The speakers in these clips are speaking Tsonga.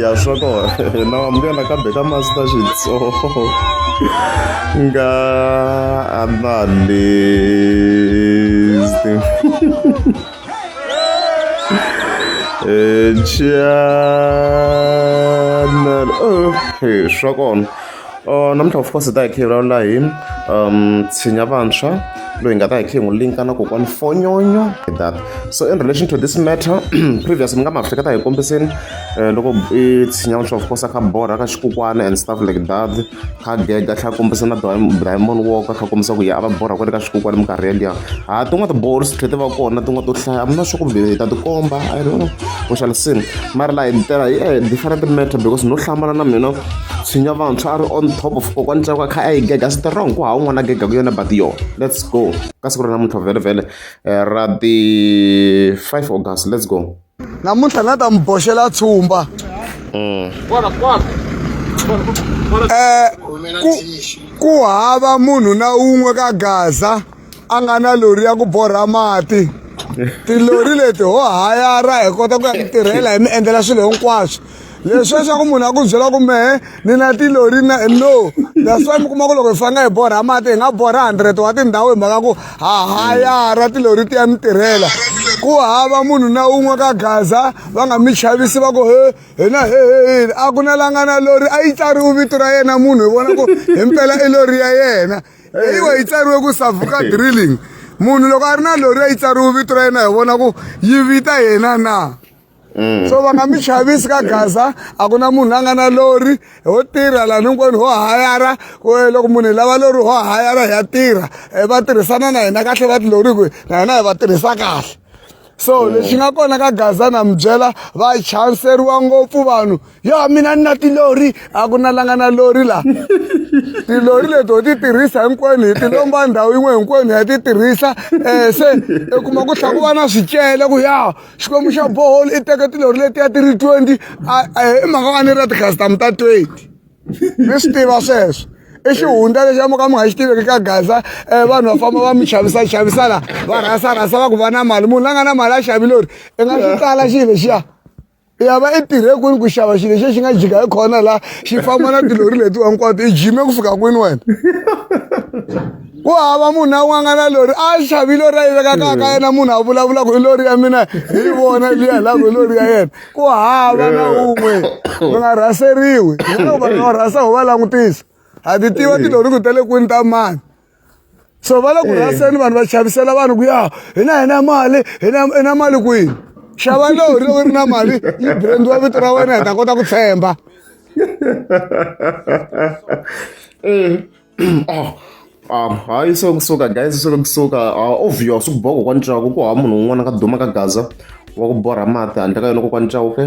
ya swa kona na wamukela kambe ka master xitsongo nga analyst channel oh, swa kona Uh, namuntlha of course hi ta hi khe hi vulavula hi um tshinya vantshwa loyi hi nga ta hi khe hi n'wi linka na kokwani fonyonyo hi that so in relation to this matter previous mi nga ma hleketa hi kombiseni um loko i tshinya vantshwa of course a kha borha ka xikukwana and stuff like that kha gega tlha kombisa na diamond walker kha kombisa ku ya a va borha kwale ka xikukwana minkarhi yeliya ha tin'wana tibolo swi tlhe ti va kona tin'wana to hlaya amina swa kumbe hi ta tikomba i don't know we shall see mara laha hi tela hi eh, different matter because no hlamala na mina tshinya vantshwa a ri on top of kokwani tsako a kha a yi gega swi tirha ku hawu n'wana gega ku yona but yo let's go ka siku ra namuntlha vhele vhele eh, ra the 5 august let's go namuntlha na ta mi boxela tshumba mm. eh, ku hava munhu na un'we ka gaza a nga na lori ya ku borha mati tilori leti ho hayara hi kota ku ya ku tirhela hi mi endlela swilo hinkwaswo leswi leswaku munhu a ku byela ku mehe ni na tilori na no that's why mi kuma ku loko hi fanga hi borha mati hi nga borha hundred wa tindhawu hi mhaka ku ha hayara tilori ti ya mi tirhela ku hava munhu na un'we ka gaza va nga mi chavisi va ku he hina he he a ku na langa na lori a yi tsariwi vito ra yena munhu hi vona ku himpela i lori ya yena eyiwa yi tsariwe ku savuka drilling munhu loko a ri na lori yi tsariwe vito ra yena hi vona ku yi vita yena na mm. so va nga mi xavisi ka gaza a ku na munhu a nga na lori ho tirha lani hinkwenu ho hayara eh, loko munhu hi lava lori ho hayara hi ya tirha eh, va tirhisana na hina kahle va tilori ku na hina hi va tirhisa kahle so mm. lexi nga kona ka gaza na mi byela va chanseriwa ngopfu vanhu yo mina ni na tilori a ku na langa na lori laha tilori leti ho ti tirhisa hinkwenu hi tilomba ndhawu yin'we hinkwenu ya ti tirhisa um eh, se i kuma ku tlha ku va na swicele ku ya xikwembu xa bohol i teke tilori letiya ti ri twenty i mhaka va ni ra tikhasitamu ta twenty mi swi tiva sweswo i xihundla lexi amuka mi nga xi tiveki ka gaza um vanhu va famba va mi xavisa xavisa la va rhasa rhasa va ku va na mali munhu la nga na mali a xavi lori i nga xi tsala xi lexiya ya va i tirhe kwini ku xava xilo xexi nga jika hi khona la xi famba na tilori leti hinkwato i jime ku fika kwini wena ku hava munhu na un'we a nga na lori a xavi lori a yi vekaka ka yena munhu a vulavula ku i lori ya mina hi vona liya la ku i lori ya yena ku hava na eh. un'we va nga rhaseriwi hiloko vanhu va rhasa ho va langutisa ha ti tiva eh. tilori ku ta le kwini ta mani so va le ku eh. rhaseni vanhu va chavisela vanhu ku ya hina hina mali hina hina mali kwini xava lori loko ri na mali yi brand wa vito ra wena hi ta kota ku tshemba oh um hayi so kusuka guys so kusuka ah, obvious ukuboha kokwani chauke ku hava munhu un'wana ka duma ka gaza wa ku borha mati handle ka yona kokwani chauke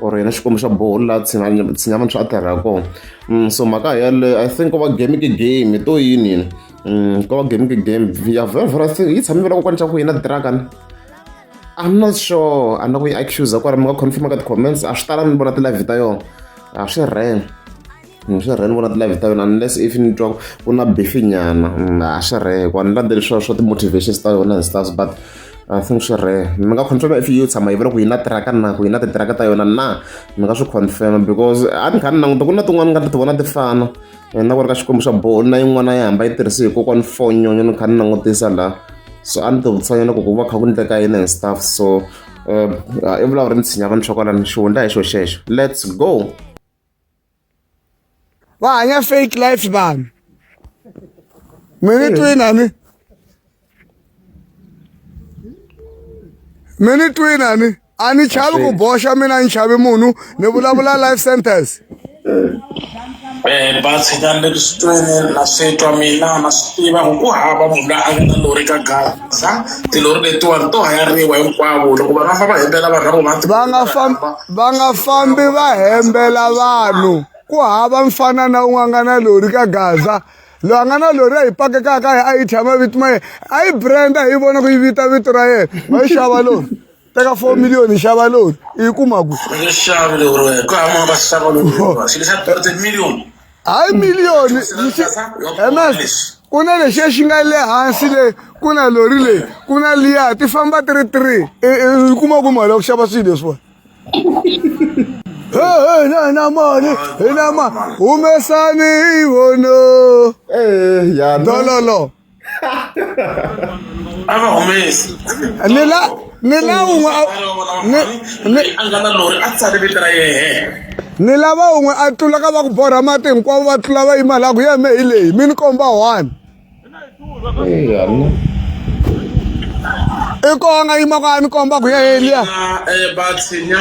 or yena xikwembu xa boholi laha tshinyama swa a tirha kona mm, so mhaka yaleyo i think ko va game ke game to yini yini mm, ko va game ke game ya very very thing yi tshame vela kokwani chauke yina dragon i'm not sure a na ku yi accusa kwara mi nga confirma ka ti-comments a swi tala ni vona ti-live ta yona a swi reng ni swi rhe ni vona ti-live ta yona unless if ni twa ku na bifinyana mm, a swi rhe hikuva ni landzeli swa swa ti-motivations ta yona and stuff but I think swi rhe mi nga confirma if yo tshama yi vula ku yi na tiraka na ku yi na titiraka ta yona na mi nga swi confirma because a ni kha ni languta ku na tin'wana ni nga ti vona ti fana and na ku ri ka xikwembu xa boho na yin'wana yi hamba yi tirhise hi kokwani fonyonyo ni kha ni langutisa la so a ni ti vutisanyana ku ku va kha ku ndleka yini and stuff so um i vulavuri ni tshinya vanhu swa kwalani xihundla hi xo xexo let's go va hanya fake life vanhu mi ni twina ni mi ni twina ni a ni chavi ku boxa mina ni chavi munhu ni vulavula life sentence Eh, ba tshikani le kusitweni na swi twa mina na swi tiva ku ku hava munhu loyi a nga na lori ka gaza tilori letiwani to hayariwa hinkwavo loko va nga famba hembela vanhu lavo va nga fambi va nga fambi va hembela vanhu ku hava mfana na un'we a nga na lori ka gaza loyi a nga na lori a yi pakekaka a yi thya mavito ma yena a yi brand a hi vona ku yi vita vito ra yena va yi xava lori teka four million yi xava lori yi kuma ku hayi miliyoni ms ku na lexiya xi nga le hansi le ku na lori leyi ku na liya ti famba ti ri three i kuma ku mali ya ku xava swilo leswiwani hi na na mali hi na ma humesani hi vono dololo a va humesi ni la ni la un'we a- ni- ni- a nga na lori a tsale vito ra yena ni lava un'we a tlula ka va ku borha mati hinkwavo va tlula va yima laha ku yeme hi leyi mi ni komba one i koho a nga yima ku a ni komba ku ye heliya na eh, batsinya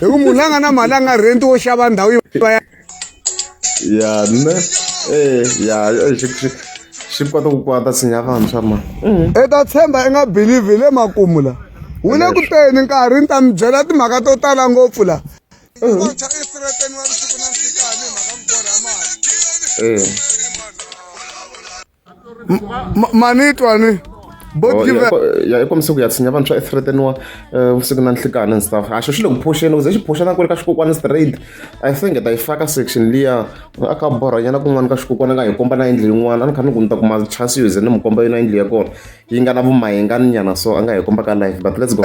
hi ku munhu la nga na mali a nga renti wo xava ndhawu yo va ya ya ne eh ya eh, xi xi xi kota ku kwata sinya vantshwa ma i ta tshemba i nga believe hi le makumu la wu le ku teni nkarhi ni ta mi byela timhaka to tala ngopfu la eh manitwani oh, ya i kombisa ku ya tshinya vanhu swa ethreteniwa eh, vusiku na nhlikani and stuff a xo xi le ku phuxeni kuze xi phuxa na ku ri ka xikokwani straight i think ta yi faka section liya a ka borhanyana kun'wana ka xikokwani nga hi komba na yindlu yin'wana a ni kha ni ku ni ta kuma chance yo ze ni mu komba yona yindlu ya kona yi nga na vumayengani nyana so a nga hi komba ka life but let's go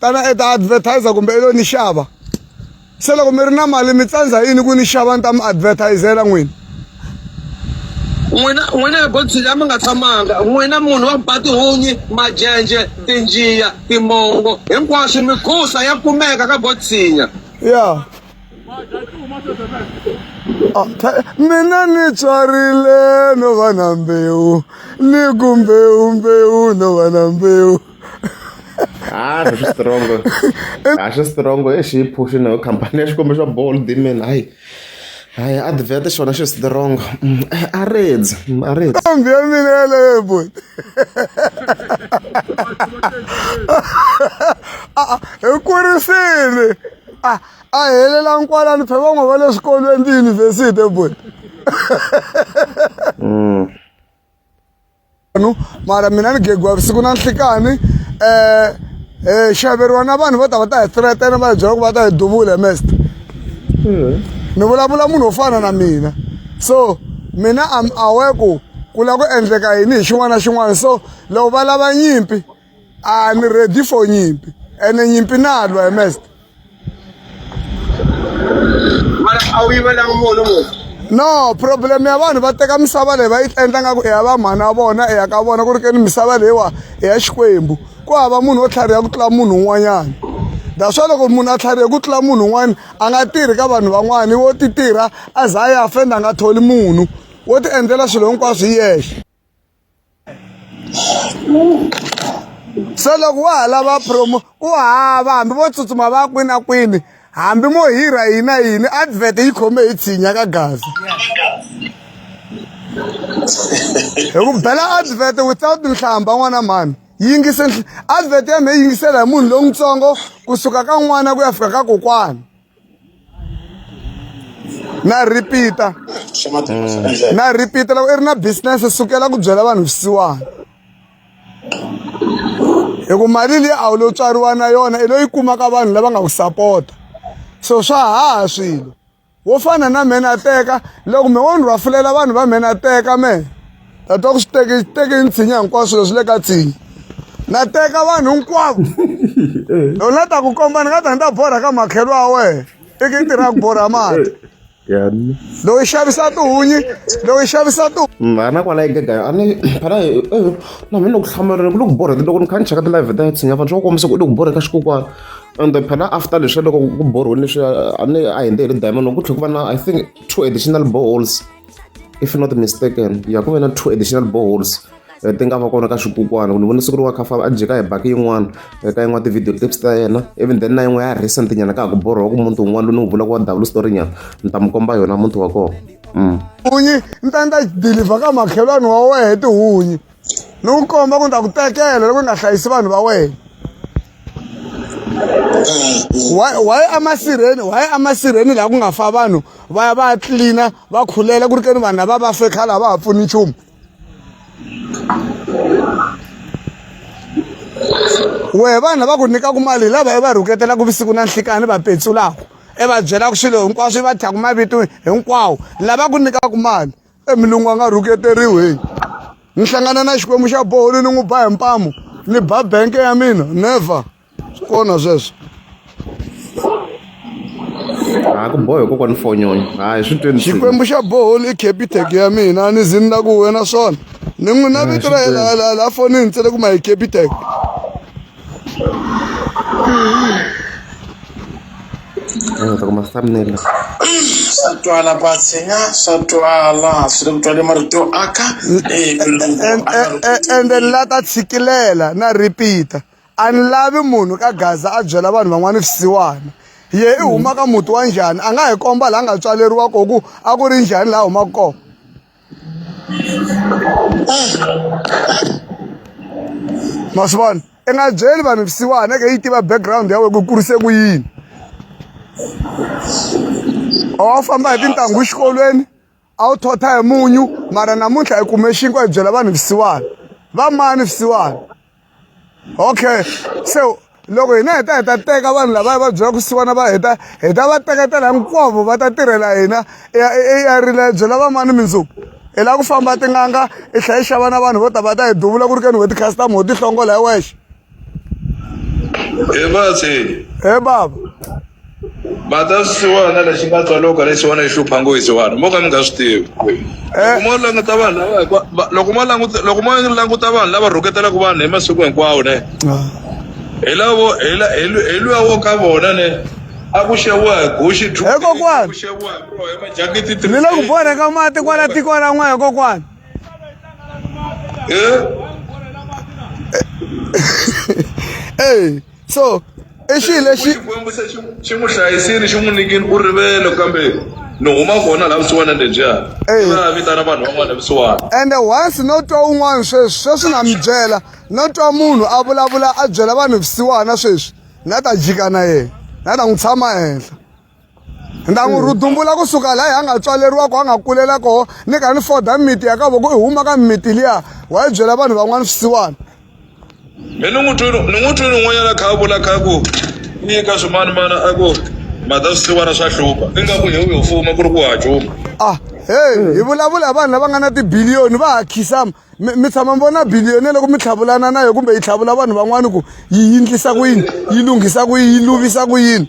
tana e ta advertiser kumbe i lo ni xava se loko mi ri na mali mi tsandza yini ku ni xava ni ta mi advertisela n'wini n'wina n'wina ya godzilla mi nga tshamanga n'wina munhu wa batihunyi majenje tinjiya timongo hinkwaswo migusa ya kumeka ka gotsinya ya ah, mina ni tswarile no va na mbewu ni ku mbewu mbewu no va na mbewu Ah, swi strong-o. A swi strong-o i xi yi phuxi na khampani ya xikombo xa ball dimen hayi hayi advert xona xi strong a redzi a redzi ntombi ya mina yaleyo boy hi kurisile a a helela nkwalani phe van'we va le swikolweni tiyunivhesiti boy vanhu mara mina ni gegiwa vusiku na nhlikani um hi xaveriwa na vanhu vo ta va ta hi threatena va hi byela ku va ta hi duvula mest ni vulavula munhu wo fana na mina so mina am awe ku ku lava ku endleka yini hi xin'wana na xin'wana so loko va lava nyimpi a ni ready for nyimpi ene nyimpi na lwa mest mara a wu yivelanga munhu munhu no problem ya vanhu va teka misava leyi va yi endla nga ku i ya va mhana wa vona i ya ka vona ku ri keni misava leyiwa i ya xikwembu ku hava munhu wo tlhariha ku tlula munhu un'wanyana that's why loko munhu a tlharihe ku tlula munhu un'wana a nga tirhi ka vanhu van'wana wo ti tirha a za a ya fenda a nga tholi munhu wo ti endlela swilo hinkwaswo hi yexe so loko wa ha lava promo ku hava hambi vo tsutsuma va kwini a kwini hambi mo hirha yini na yini advert yi khome hi tshinya ka gaza hi ku bela advert without nhlamba n'wana mhani yingise advert ya mhe yingisela hi munhu lowutsongo kusuka ka n'wana ku ya fika ka kokwana na repeat-a na repeat-a loko i ri na business sukela ku byela vanhu swisiwana hi ku mali leyi a wu lo tswariwa na yona i loyi kumaka vanhu lava nga ku sapota so swa haha swilo wo fana na mhena teka loko mhe wo ni rhwafulela vanhu va mhena teka mehe ta twa ku swi teke teke ni tshinya hinkwaswo swilo swi le ka tshinya na teka vanhu hinkwavo loko na ta ku komba ni nga ta ni ta borha ka makhelo wa wena i ki tirha ku borha mati loyi xavisa tihunyi loyi xavisa tu mm, a na kwala egegaya a ni phana eh, eh, na mina ku hlamulela ku le ku borha loko ni kha ni cheka ti-live ta tshinya vanhu swa ku kombisa ku u le ku borha ka xikokwana and then phela after leswi loko ku borhiwile leswi a ni a hi ndzi hi ri diamond ku tlhela ku va na i think two additional boreholes if not mistaken ya ku ve na two additional boreholes eh, ti nga va kona ka xikukwana ku ni vone siku ri wa khafa a jeka hi baki yin'wana eh, ka yin'wana ti-video clips ta yena even then na yin'we ya recent nyana ka ha ku borhowa ku muti wun'wana lowu ni wu vulaka wa dawulu story nyana ni ta mi komba yona muti wa kona mm. hunyi ni ta ni ta deliver ka makhelwani wa wehe tihunyi ni ku komba ku ni ta ku tekela loko ni nga hlayisi vanhu va wena waye amasirheni waye amasirheni laha ku nga fa vanhu va ya va ya tlilina va khulela ku ri keni vanhu lava va fe khale a va ha pfuni nchumu wehe vanhu lava ku nyikaku mali hi lava i va rhuketelaku vusiku na nhlikani va petsulaku i va byelaku swilo hinkwaswo i va thyaka mavito hinkwawo lava ku nyikaku mali e milungu a nga rhuketeriwi heyi ni hlangana na xikwembu xa boholi ni n'wi ba hi mpamu ni ba benke ya mina never swi kona sweswo ha ku bohe kokwani fonyoni hayi swi tweni xikwembu xa boholi i capitec ya mina a ni zi ni la ku wena swona ni n'wi na vito ra yena la fonini ntsele ku ma hi capitec swa twala batsenya swa twala swi le ku twale marito yo aka ende ni la ta tshikilela na repeat-a a ni lavi munhu ka gaza a byela vanhu van'wana swisiwana ye i huma ka muti wa njhani a nga hi komba laha nga tswaleriwa koho ku a ku ri njhani laha humaka kona ma swi vona i nga byeli vanhu vusiwana ke yi tiva background ya wena ku kurise ku yini a wu famba hi tintangu exikolweni a wu thotha hi munyu mara namuntlha hi kume xinkwa hi byela vanhu vusiwana va mani vusiwana okay so loko hina hi ta hi ta teka vanhu lava va byela ku siwana va heta hi ta va teketela hinkwavo va ta tirhela hina eyarile byela vamani mindzuku hi lava ku famba tin'anga i tlhela yi xava na vanhu vo ta va ta hi duvula ku ri keni ho ti-customer ho tihlongola hi wexe he baba matasiwana lexi nga tswaloka lexiwana yi hlupha ngo yisiwana mo ka mi nga swi tivi loko mo languta vanhu lava hikwa- va- loko mo languta loko mo languta vanhu lava rhuketelaka vanhu hi masiku hinkwawo ne hi lavo hi la- hi lu- hi luya wo ka vona ne a ku xeviwa hi guxi two Eh, kokwana. ku xeviwa hi bro hi majakiti three ni le ku borheka mati kwala tiko ra n'wina kokwana Eh? eyi so i xilo lexi xikwembu se xi xi n'wi hlayisile xi n'wi nyikile u rivele kambe ni huma kona laha vusiwana lebyiya Eyi. va vitana vanhu van'wana vusiwana ende once no twa un'wana sweswi sweswi na mi byela no twa munhu a vulavula a byela vanhu vusiwana sweswi na ta jika na yena na ta n'wi tshama henhla ndangu rhudumbula kusuka laha a nga tswaleriwa ko a nga kulela koho ni ka ni foda mimiti ya ka voko i huma ka mimiti liya wa yi byela vanhu van'wana swisiwana mi ni n'wi twini ni n'wi twini un'wanyana kha a vula kha ku ni eka swimani mana a ku mhata swisiwana swa hlupha ingaku hi wu yo fuma ku ri ku hacuma ah heyi hi vulavula hi vanhu lava nga na tibiliyoni va ha khisama mi tshama mi vona biliyone loko mi tlhavulana na yo kumbe yi tlhavula vanhu van'wana ku yi yindlisa ku yini yi lunghisa ku yi luvisa ku yini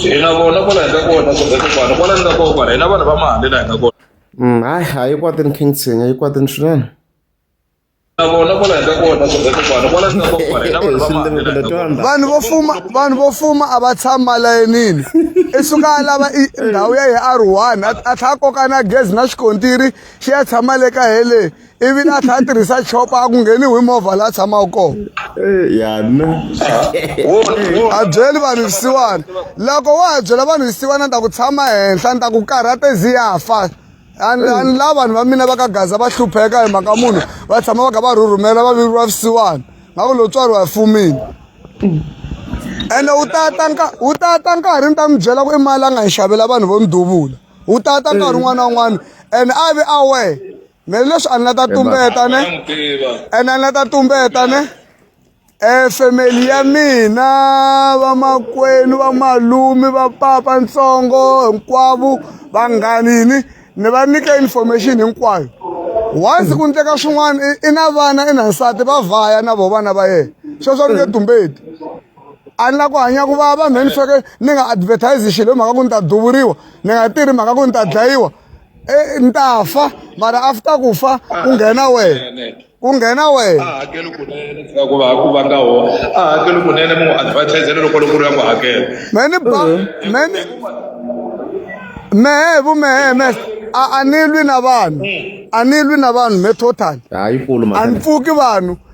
hina vona kwala hi nga kona kumbe kokwana kwala ni nga kokwana hina vanhu va mali la hi nga kona mm, hayi a yi kwatini king tsenya yi kwatini swinene vanhu vo fuma vanhu vo fuma a va tshami malayinini i suka a lava ndhawu ya hi r one a tlha a koka na gezi na xikontiri xi ya tshama le ka hele ivi la tlha a tirhisa chopa a ku ngheni hi movha la tshamaka kona yana a byeli vanhu lisiwana loko wa ha byela vanhu lisiwana ni ta ku tshama henhla ni ta ku karhate zi ya fa ani la vanhu va mina va ka gaza va hlupheka hi mhaka munhu va tshama va kha va rhurhumela va viriwa visiwana nga ku lotswari wa fumini ene u tata wu tata nkarhi ni ta mi byela ku i mali a nga hi xavela vanhu vo ni duvula wu tata nkarhi un'wana na un'wana and a ve a we me leswi a ni la ta tumbeta ne and a ni la ta tumbeta ne um family ya mina vamakwenu vamalumi va papa ntsongo hinkwavo vanghani yini ni va nyika information hinkwayo once ku ndleka swin'wana i na vana i na nsati va vhaya na vo vana va yena sweswo ni nge tumbeti a ni la ku hanya ku vava mhe ni feke ni nga advertise xilo hi mhaka ku ni ta duvuriwa ni nga tirhi mhaka ku ni ta dlayiwa e, ni ta fa mara after ku fa ku nghena wena ku nghena wena a hakeli kunene fika ku va ku va nga ho a hakeli kunene mu advertise loko loko ri ya ku hakela me ni ba me ni mehe vu mehe me a a ni lwi na vanhu a ni lwi na vanhu me total a ni pfuki vanhu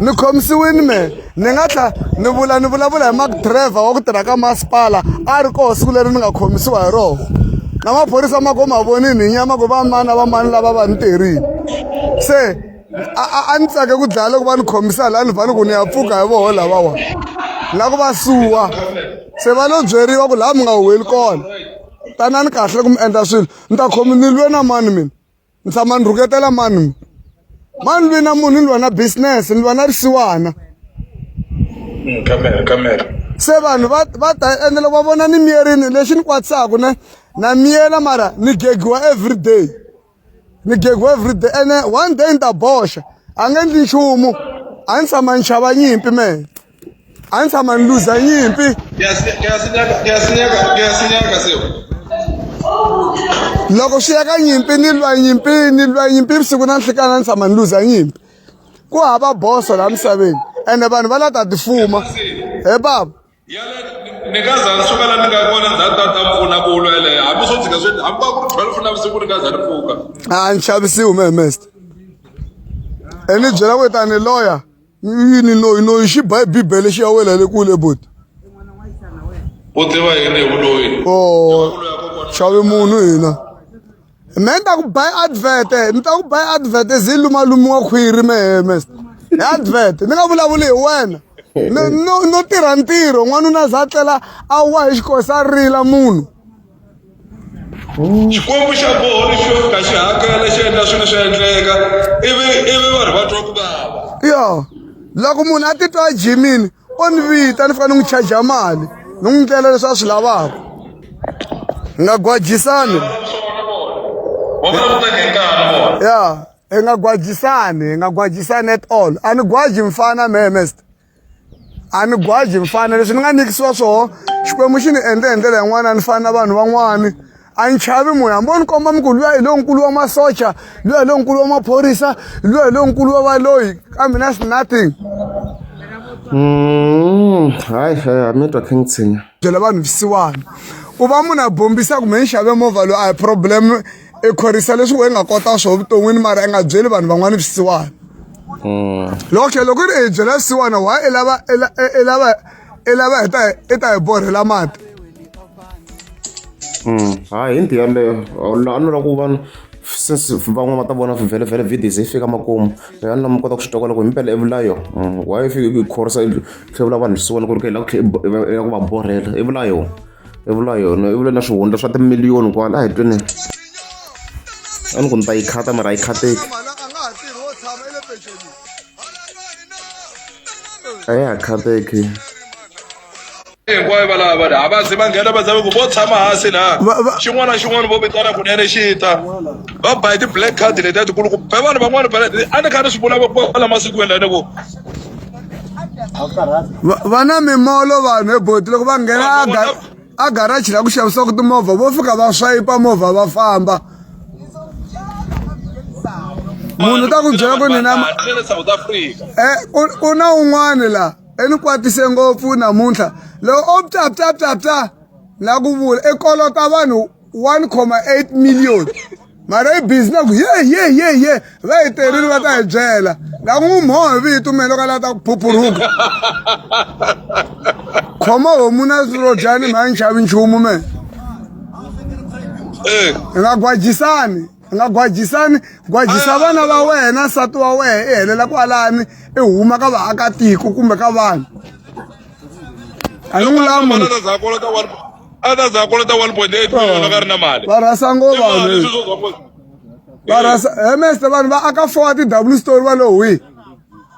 ni khomisiwini me ni nga tlha ni vula ni vulavula hi mak driver wa ku tirha ka masipala a ri koho siku leri ni nga khomisiwa hi rona na maphorisa ma ko ma vonini hi nyama ku va mani na va mani lava va ni tirhini se a ni tsake ku dlaya loko va ni khomisa laha ni vhani ku ni ya pfuka hi voho lavawa la ku va suwa se va lo byeriwa ku laha mi nga huweli kona tanani kahle ku mi endla swilo ni ta khomi ni lwe na mani mina ni tshama ni rhuketela mani mi mani lwi na munhu ni lwa na business ni lwa na risiwana mm, kamera kamera se vanhu va va ta ende loko va vona ni miyerini lexi ni kwatisaka ne na miyela mara ni gegiwa every day ni gego everyday ene one day ni ta boxa a nge endli nchumu a ni tshama ni xava nyimpi mehe a ni tshama ni luza nyimpi loko swi ya ka nyimpi ni lwa nyimpi ni lwa nyimpi vusiku na nhlikana ni tshama ni luza nyimpi ku hava boso laha misaveni ene vanhu va la ta tifuma he baba ni nga za ni suka la ni nga kona ndza ta ta mpfuna ku lwa yeleyo hambi swo tshika swi hambi va ku ri twelve navusiku ni nga za ni pfuka a ni xavisiwi me mest e ni byela ku ta ni loya yini noyi noyi xi ba hi bibele xi ya wela le kule boti u tiva yini hi vuloyi o xavi munhu hina me ni ta ku buy advert ni ta ku buy advert zi lumalumiwa khwiri mehemes hi advert ni nga vulavuli hi wena no no tirha ntirho n'wanuna za tlela a wa hi xikosi a rila munhu xikwembu xa koho lexi xo fika xi hakela xi endla swilo swi endleka ivi ivi vanhu va twa ku vava yo loko munhu a titwa a jimile o ni vita ni fika ni n'wi charger mali ni n'wi ndlela leswi a swi lavaka hi nga gwajisani ya hi nga gwajisani hi nga gwajisani at all a ni gwaji mfana mhemest a ni gwaji mfana leswi ni nga nikisiwa swona xikwembu xi ni endle hi ndlela yin'wana a ni fani na vanhu van'wani a ni chavi munhu hambi o ni komba mi ku luya hi lonkulu wa masocha luya hi lonkulu wa maphorisa luya hi lonkulu wa valoyi kambe na nothing mm, hayi a mi twa khe ni tshinya byela vanhu visiwana ku va munhu a bombisa kumbe ni xave movha loyi a hi problem i khorisa leswi we nga kota swo vuton'wini mara i nga byeli vanhu van'wana visiwana mm. loko tlhe loko ri i byela visiwana why i lava i lava i lava hi ta i ta hi borhela mati mm, hayi hi nti yaleyo a ni lava ku vanhu since van'wana va ta vona vhele vhele videos yi fika makumu ya ni lama kota ku swi tokola ku hi mpela evulayo mm, why yi fike yi khorisa tlhevula vanhu swi vona ku ri ka hi lava ku tlhe ya ku va borhela evulayo evulayo evulayo na swihundla swa timiliyoni kwala a hi twini a ni ku ni ta yi khata mara a yi khateki a ya ha khateki hinkwayo va lava vanhu a va zi va nghena va zave ku vo tshama hansi laha Va- va- xin'wana na xin'wana vo vitana kunene xi ta va bayi ti-black card letiya tikulu ku be vanhu van'wana va a ni kha ni swi vula kwala masikwini lani ku va va na mimolo vanhu eboti loko va nghena a ga- a garaji la ku xavisaka timovha vo fika va swayipa movha va famba munhu ta ku byela ku ni na eh, ku na un'wana la eni kwatise ngopfu namuntlha loko o ptaptaptapta la ku vula i kolota vanhu 1,8 million mara yi busy na ku ye ye ye ye va yi terile va ta hi byela na ku n'wi mhoho hi vito mina loko a lava ta ku phuphuruka khoma homu na rodyani mhayi nxavi nchumu me hi nga gwajisani u nga gwajisani gwajisa ah. vana va wena nsati wa wena i helela kwalani i huma ka vaakatiko kumbe ka vanhu a ni n'wi lamu a ta za kolota 1.8 million a ka ri na mali va rhasa ngo vanhu va rhasa he meste vanhu va aka four ti-w story va lo hwihi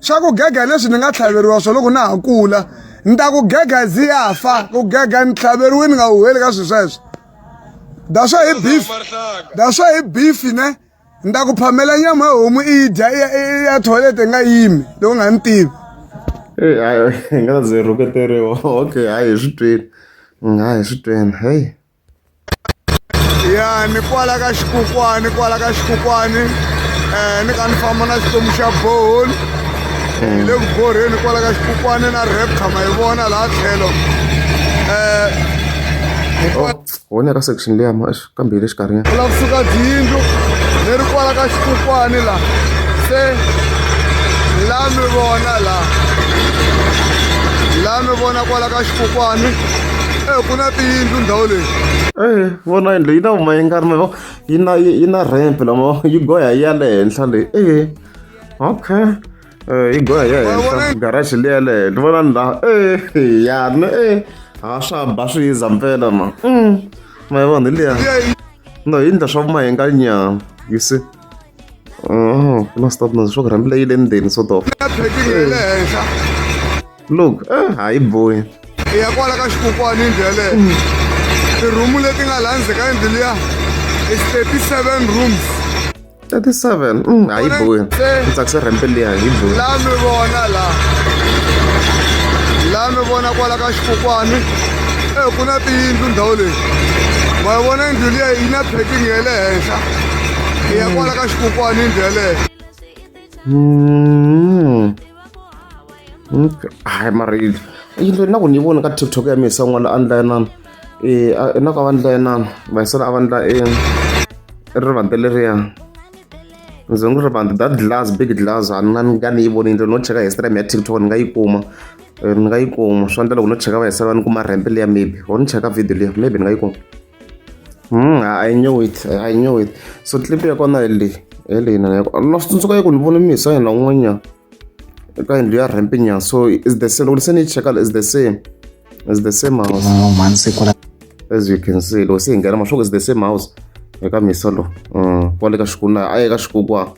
swa ku gega leswi ni nga tlhaveriwa swo loko na ha kula ni ta ku gega zi ya fa ku gega ni tlhaveriwe ni nga huheli ka swilo sweswo daswa hi beef daswa hi beef ne ni ta ku phamela nyama ya homu i yi dya ya toilet i nga yimi loko nga ni tivi eyi hayi hi nga ze rhuketeriwa okay hayi hi swi twini hayi hi swi twini heyi ya ni kwala ka xikukwani kwala ka xikukwani um ni ka ni famba na xitomu xa bohol hi le ku borheni kwala ka xikukwani na repta ma yi vona laha tlhelo um wona ka section leya ma kambe hi le xikarhi nyana lava kusuka dyindlu ni ri kwala ka xikukwani la se la mi vona la la mi vona kwala ka xikukwani Eh, ku na tiyindlu ndhawu leyi eh vona yindlu yi na vuma yi nga ri mavo yi na yi na ramp lama yi goya yi ya le henhla leyi eh okay eh yi goya yi ya henhla garage leyi ya le henhla vona ni laha eh ya ni eh ha swa ba swi yiza mpela ma mm ma yi vona hi liya no yi ndla swa vuma yi nga nyama you see Oh, kuna stop na swo rhambile yi le ndzeni sort of. Ya phekile le henhla. look eh, hayi boy ya kwala ka xikokwani ndlele tirhumu leti nga laha ndzhe ka yindlu liya i 37 rooms 37 mm, hayi boy ndzi tsakise rhempe liya hi boy laha mi vona laha laha mi vona kwala ka xikokwani e ku na tiyindlu ndhawu leyi ma yi vona yindlu liya yi na packing ya le henhla i ya kwala ka xikokwani yindlu yeleyo mm. hayi mara yindlo na ku ni voni ka tiktok ya misa n'wana a ndla yanana um na ku a va ndla yanana vayisana a va ndla e rivante leriya ndzi n'wi rivante that glass big glass a na nga ni yi voni yindlo no cheka history ya tiktok ni nga yi kuma ni nga yi kuma swa ndla loko no cheka vayisana va ni kuma rhempe liya maybe or ni cheka video liya maybe ni nga yi kuma Hmm, I knew it. I knew it. So clip ya kona hi leyi. Hi leyi na ya. Na swi tsundzuka yi ku ni vone mi hisa yena un'wanyana. Eka yindlu ya ramp nyana. So is the same. Loko se ni cheka is the same. Is the same house. Oh, man siku ra As you can see, loko se hi nghena mashoku is the same house. Eka misa lo. Mm, kwale ka xikuna, a eka xikukwa.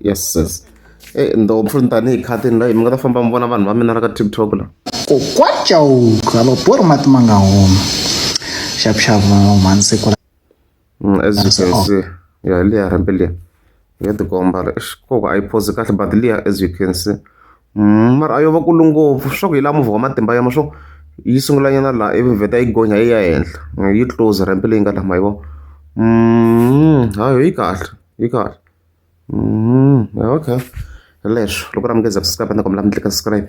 yes yes e eh, ndopfu ni tanihi khatini la mi nga ta famba mi vona vanhu va mina la ka tiktok la kokwacauka va borhi mati ma nga huma xavuxavu mhansiku mm, as you can oh. see ya liya rambe liya ya tikomba koko a yi phosi kahle but liya as you can see mara a yo va kulu ngopfu swa ku hi laha movha wa matimba ya ma swo yi sungula nyana laha ivi vheta yi gonya yi ya henhla yi close ramp leyi nga laha ma yi vona ha yo yi kahle yi kahle okay leswo loko ra mi nge za subscribe ni kombela mi tlika subscribe